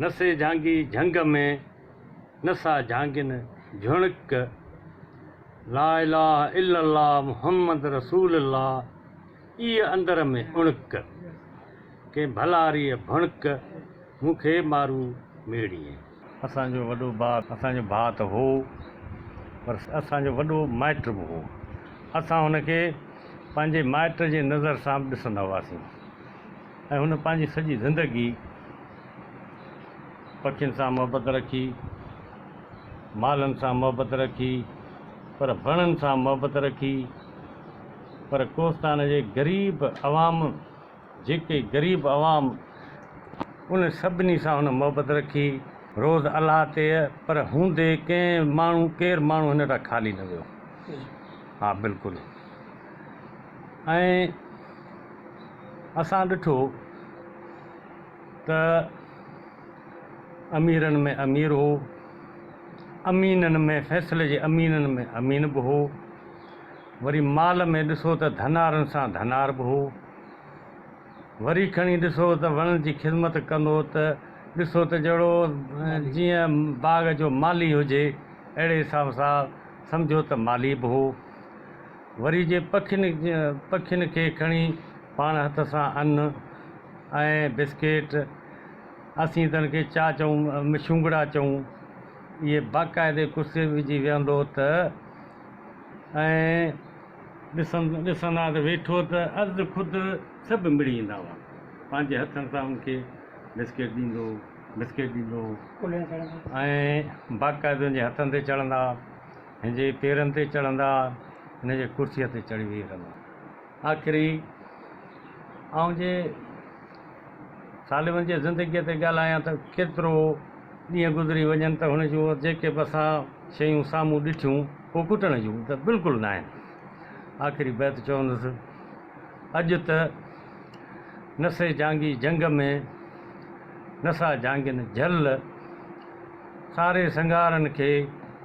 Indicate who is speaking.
Speaker 1: نسي جهانگي جهنگ ۾، نسا جهانگين جهڻڪ. لا اله الا الله محمد رسول الله، ايء اندر ۾ اڻڪ. ڪنهن ڀلاريء ڀڻڪ، مون کي مارو ميڙيئي. اسان جو وڏو ڀاء اسان جو ڀاء ته هو، پر اسان جو وڏو مائٽ به هو. اسان هن کي پنهنجي مائٽ جي نظر سان به ڏسندا هئاسين. ۽ هن پنهنجي سڄي زندگي پکين سان محبت رکي، مالن سان محبت رکي، پر وڻن سان محبت رکي، پر ڪوهستان جي غريب عوام جيڪي غريب عوام ان سڀني سان هن محبت رکي، روز الله تي پر هوندي ڪنهن ماڻهو ڪير ماڻهو هن تان خالي نه ويو، ها بلڪل. ۽ اسان ڏٺو ته اميرن ۾ امير هو، امينن ۾ فيصلي جي امينن ۾ امين به هو، وري مال ۾ ڏسو ته ڌنارن سان ڌنار به هو، وري کڻي ڏسو ته وڻن جي خذمت ڪندو ته ڏسو ته جهڙو جيئن باغ جو مالي هجي، اهڙي حساب سان سمجهو ته مالي به هو. وري جي پکين پکين کي کڻي پاڻ هٿ سان ان ۽ بسڪيٽ اسين تن کي چا چئون مشونگڙا چئون اهي باقاعدي ڪرسي وجهي ويهندو ته ۽ ڏسندا ته ويٺو ته از خود سڀ مڙي ايندا هئا پنهنجي هٿن سان ان کي بسڪيٽ ڏيندو بسڪيٽ ڏيندو ۽ باقاعدي ان جي هٿن تي چڙهندا هن جي پيرن تي چڙهندا، هن جي ڪرسيء تي چڙهي ويهي رهندا. آخري آئون جي سالمن جي زندگيء تي ڳالهايان ته ڪيترو ڏينهن گذري وڃن ته هن جون جيڪي به اسان شيون سامهون ڏٺيون، اهي ڪٽڻ جون ته بلڪل ناهن. آخري بيت چوندس، اڄ ته نسي جهانگي جهنگ ۾، نسا جهانگين جهل، ساري سنگارن کي،